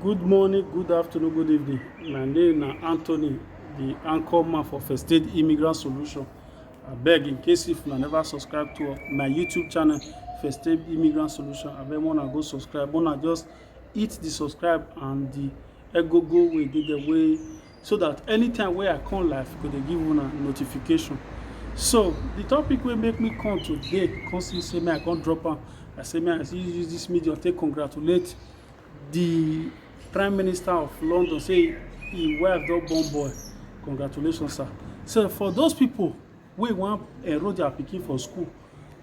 Good morning, good afternoon, good evening. My name na Anthony, the anchor man for First Aid Immigrant Solution. Abeg, in case if una never subscribe to my YouTube channel, First Aid Immigrant Solution, abeg una go subscribe. Una just hit the subscribe and the egogo wey dey there wey so that anytime wey I come live, I go dey give una notification. So the topic wey make me come today, come see say me I come drop am. I say me I see use this medium take congratulate the Prime Minister of London say him wife don born boy. Congratulations, sir. So for those people wey wan enroll their pikin for school,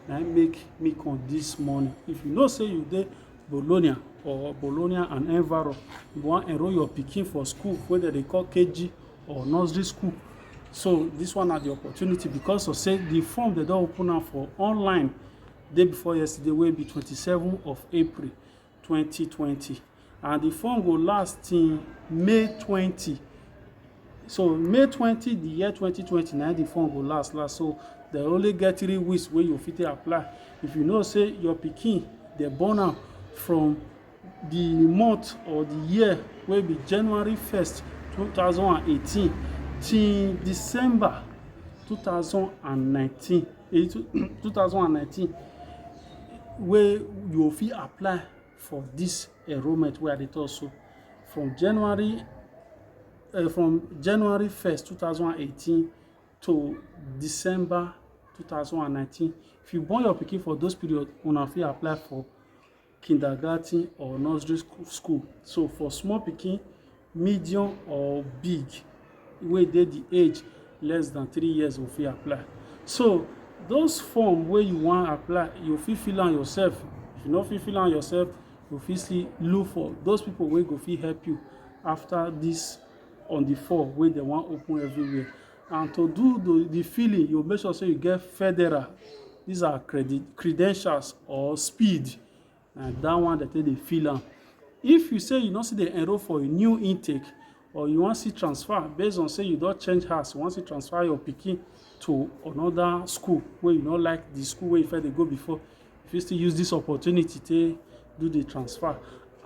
na im make me come this morning. If you know say you dey Bologna or Bologna and Enviro, you wan enroll your pikin for school wey dem dey call KG or nursery school. So this one na the opportunity because of say the form dem don open am for online day before yesterday wey be twenty seven of April twenty twenty and the form go last till May twenty so may twenty the year twenty twenty na the phone go last last so they only get three weeks wey you fit apply if you know say your pikin dey born am from the month or the year wey be january first two thousand and eighteen till december two thousand and nineteen eh, two thousand and nineteen wey you fit apply for this enrollment wey I dey talk so from January uh, from January 1st 2018 to December 2019 if you born your pikin for those period una fit apply for kindergarten or nursery school so for small pikin medium or big wey dey the age less than three years go fit apply so those form wey you wan apply you fit fill am yourself if you no fit fill am yourself you fit still look for those people wey go fit help you after this on the four wey dem wan open everywhere and to do the, the filling you make sure say you get federal these are credit credentials or speed na that one dem take dey fill am if you say you no still dey enroll for a new intake or you wan see transfer based on say you don change house you wan see transfer your pikin to another school wey you no like the school wey you first dey go before you fit still use this opportunity take do the transfer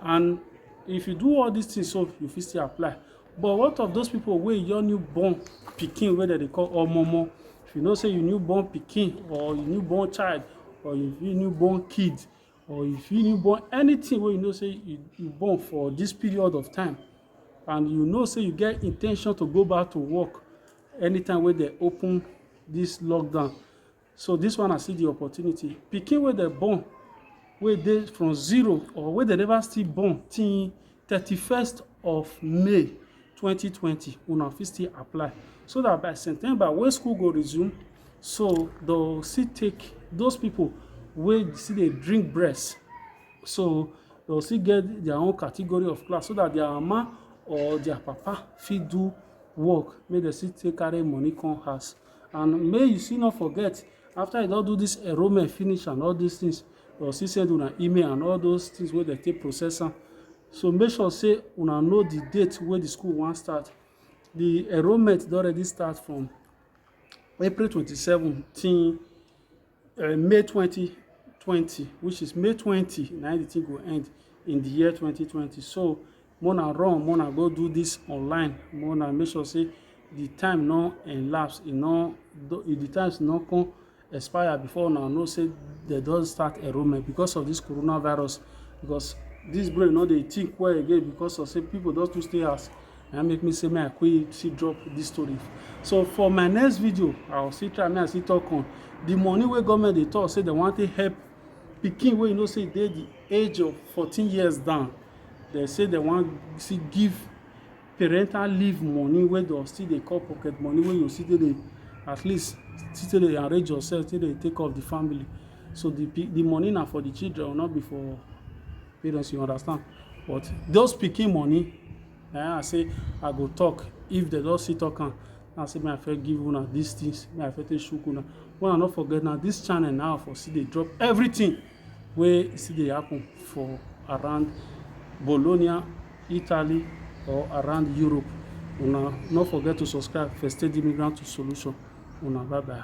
and if you do all these things so you fit still apply But what of those people wey your newborn pikin wey dem dey call omomo? If you know say you newborn pikin or you newborn child or you fit newborn kid or you fit newborn anything wey you know say you you born for this period of time and you know say you get in ten tion to go back to work anytime wey dem open this lockdown. so this one i see the opportunity pikin wey dem born wey dey from zero or wey dem never still born till thirty-first of may twenty twenty una fit still apply so that by september wey school go resume so dem still take those people wey still dey drink breast so dem still get their own category of class so that their mama or their papa fit do work make dem still take carry money come house and may you still not forget after you don do this enrollment finish and all these things or still send una email and all those things wey dem take process am so make sure say una know the date wey the school wan start the enrollment don already start from april twenty-seven till uh, May 2020, which is May 20, now the thing will end in the year 2020. So Mona run, Mona go do this online. Mona make sure say the time no elapse, e no the times no come expire before now know say they don start enrollment because of this coronavirus because this brain no dey think well again because of say people don too stay house na make me say me i quick see drop this story so for my next video i will still try me i still talk on the money wey government dey talk say they want to help pikin wey you know say dey the age of 14 years down they say they want see give parental leave money wey they still dey call pocket money wey you still dey at least still dey arrange yourself still dey take off the family so the the money na for the children not be for parents you understand but those pikin money na I say I go talk if they don see talk am I say may I first give una these things may I first take shook una when I no forget now this channel now for see they drop everything where see they happen for around Bologna Italy or around Europe una no forget to subscribe first aid immigrant to solution una bye bye.